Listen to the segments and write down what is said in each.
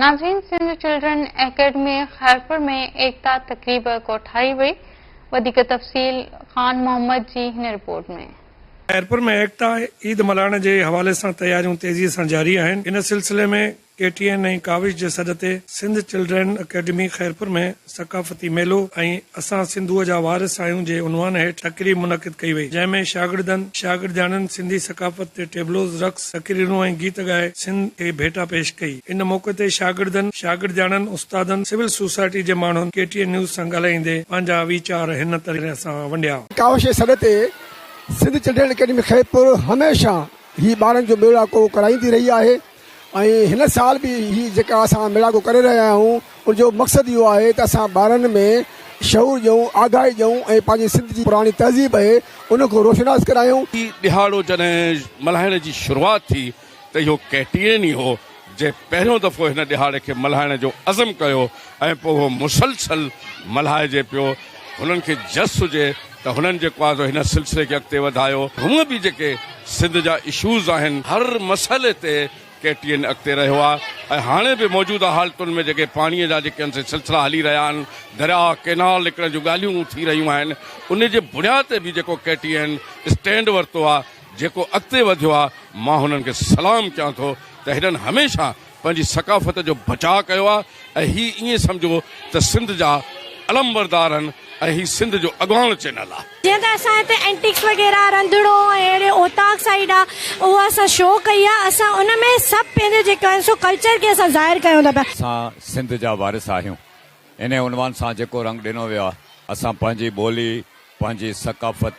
ناظرين Sindh children academy Khairpur ۾ ايڪتا تقريب ڪوٺائي وئي وڌيڪ تفصيل خان محمد جي هن رپورٽ ۾. خيرپور ۾ ايڪتا عيد ملهائڻ جي حوالي سان تياريون تيزي سان جاري آهن ان سلسلي ۾ ڪي ٽي اين ۽ ڪاوش جي سڏ تي سنڌ چلڊرين اڪيڊمي خيرپور ۾ ثقافتي ميلو ۽ اسان سنڌوء جا وارث آهيون جي عنوان هيٺ تقريب منعقد ڪئي وئي جنهن ۾ شاگردن شاگردياڻين سنڌي ثقافت تي ٽيبلوز رقص تقريرون ۽ گيت ڳائي سنڌ کي ڀيٽا پيش ڪئي ان موقعي تي شاگردن شاگردياڻين استادن سول سوسائٽي جي ماڻهن ڪي ٽي اين نيوز سان ڳالهائيندي پنهنجا ويچار هن طرح سان ونڊيا. ڪاوش جي سڏ تي سنڌ چلڊرين اڪيڊمي خيرپور هميشه هي ٻارن جو ميڙاڪو ڪرائيندي رهي آهي. ۽ هن سال به هي جيڪا اسان ميڙاڪو ڪري رهيا آهيون ان جو مقصد اهو آهي ته اسان ٻارن ۾ شعور ڏيون، آگاهي ڏيون ۽ پنهنجي سنڌ جي پراڻي تهذيب اهي ان کان روشناس ڪرايون. هي ڏهاڙو جڏهن ملهائڻ جي شروعات ٿي ته اهو ڪيٽرين ئي هو جنهن پهريون دفعو هن ڏهاڙي کي ملهائڻ جو عزم ڪيو ۽ پوء اهو مسلسل ملهائجي پيو. هنن کي جس هجي ته هنن جيڪو آهي سو هن سلسلي کي اڳتي وڌايو. هونء به جيڪي سنڌ جا اشوز آهن هر مسئلي تي ڪي ٽي اين اڳتي رهيو آهي ۽ هاڻي به موجوده حالتن ۾ جيڪي پاڻي جا جيڪي هنسي سلسلا هلي رهيا آهن دريا ڪينال نڪرڻ جون ڳالهيون ٿي رهيون آهن انهي جي بنياد تي به جيڪو ڪي ٽي اين اسٽينڊ ورتو آهي جيڪو اڳتي وڌيو آهي مان هنن کي سلام ڪيان ٿو ته هنن هميشه پنهنجي ثقافت جو بچاء ڪيو آ ۽ هي ائين سمجهو ته سنڌ جا علمبردار آهن ۽ هي سنڌ جو اڳواڻ چينل آ. جيئن ته اسان هتي اينٽيڪس وغيره رنڌڻو ۽ اهڙي اوطاق سائيڊ آ اهو اسان شو ڪئي آ اسان ان ۾ سڀ پنهنجو جيڪو آهن سو ڪلچر کي اسان ظاهر ڪيون ٿا پيا. اسان سنڌ جا وارث آهيون انهي عنوان سان جيڪو رنگ ڏنو ويو آ اسان پنهنجي ٻولي پنهنجي ثقافت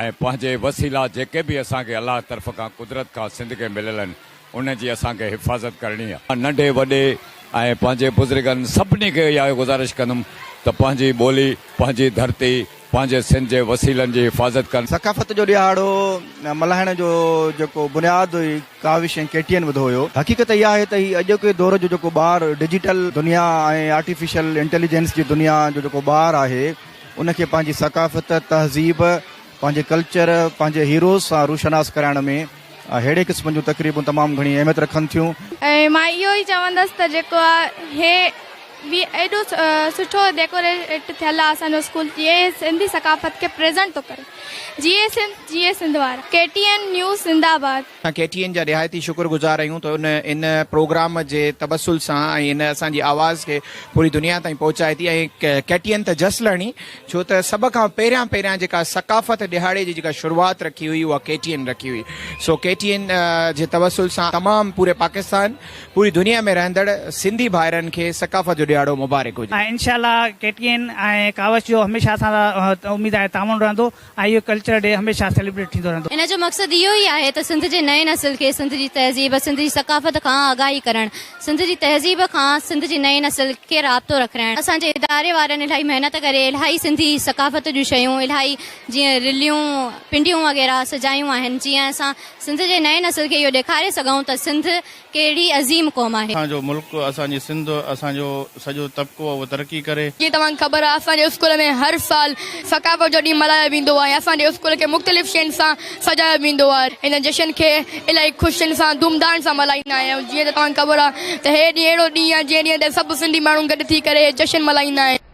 ۽ پنهنجي وسيلا جيڪي به اسان کي الله طرف کان قدرت کان سنڌ کي مليل آهن ان جي اسان کي حفاظت ڪرڻي آهي. مان ننڍي وڏي ۽ پنهنجي بزرگن سڀني کي اها گذارش ڪندم ته پنهنجي ٻولي، پنهنجي ڌرتي، پنهنجي سنڌ جي وسيلن جي حفاظت ڪن. ثقافت جو ڏيهاڙو ملهائڻ جو جيڪو بنياد هئي ڪاوش ۽ ڪيٽيئن وڌو هيو. حقيقت اها آهي ته هي اڄوڪي دور جو جيڪو ٻار ڊجيٽل دنيا ۽ آرٽيفيشل انٽيليجنس جي دنيا جو جيڪو ٻار آهي ان کي پنهنجي ثقافت، تهذيب، پنهنجي ڪلچر، پنهنجي هيروز سان روشناس ڪرائڻ ۾ ههڙي قسم جون تقريبون تمام گهڻي اهميت رکن ٿيون. ۽ مان اهو ئي چوندس ته جيڪو آ هي وي ايڏو سٺو ڊيڪوريٽ ٿيل آ اسان جو اسڪول جي اهي سنڌي ثقافت کي پريزنٽ ٿو ڪري جي اي سنڌ جي اي سنڌ وارا ڪي ٽي اين نيوز زنده آباد. اسان ڪي ٽي اين جا نهايت ئي شڪر گذار آهيون ته ان ان پروگرام جي تبسل سان ۽ ان اسان جي آواز کي پوري دنيا تائين پهچائي ٿي ۽ ڪي ٽي اين ته جس لهڻي ڇو ته سڀ کان پهريان پهريان جيڪا ثقافت ڏهاڙي جي جيڪا شروعات رکي هئي اها ڪي ٽي اين رکي هئي سو ڪي ٽي اين جي تبسل سان تمام پوري پاڪستان پوري دنيا ۾ رهندڙ سنڌي ڀائرن کي ثقافت جو ڏهاڙو مبارڪ هجي. ۽ انشاء الله ڪي ٽي اين ۽ ڪاوش جو هميشه اسان سان اميد آهي تعاون رهندو اهو ڪلچرل ڊي هميشه سيليبريٽ ٿيندو رهندو. ان جو مقصد اهو ئي آهي ته سنڌ جي نئين نسل کي سنڌ جي تهذيب، سنڌ جي ثقافت کان آگاهي ڪرڻ، سنڌ جي تهذيب کان سنڌ جي نئين نسل کي رابطو رکرائڻ. اسان جي اداري وارن الاهي محنت ڪري الاهي سنڌي ثقافت جون شيون الاهي جيئن رليون، پنڊيون وغيره سجايون آهن جيئن اسان سنڌ جي نئين نسل کي اهو ڏيکاري سگهون ته سنڌ. ڪهڙي عظيم قوم آهي. اسان جو ملڪ، اسان جي سنڌ، اسان جو سڄو طبقو اهو ترقي ڪري. جيئن توهان کي خبر آهي اسان جي اسڪول ۾ هر سال ثقافت جو ڏينهن ملهايو ويندو آهي اسان جي اسڪول کي مختلف شين سان سجايو ويندو آهي هن جشن کي الائي خوشين سان ڌوم ڌان سان ملهائيندا آهيون جيئن ته توهان کي خبر آهي ته هي ڏينهن اهڙو ڏينهن آهي جنهن ڏينهن تي سڀ سنڌي ماڻهو گڏ ٿي ڪري هي جشن ملهائيندا آهن.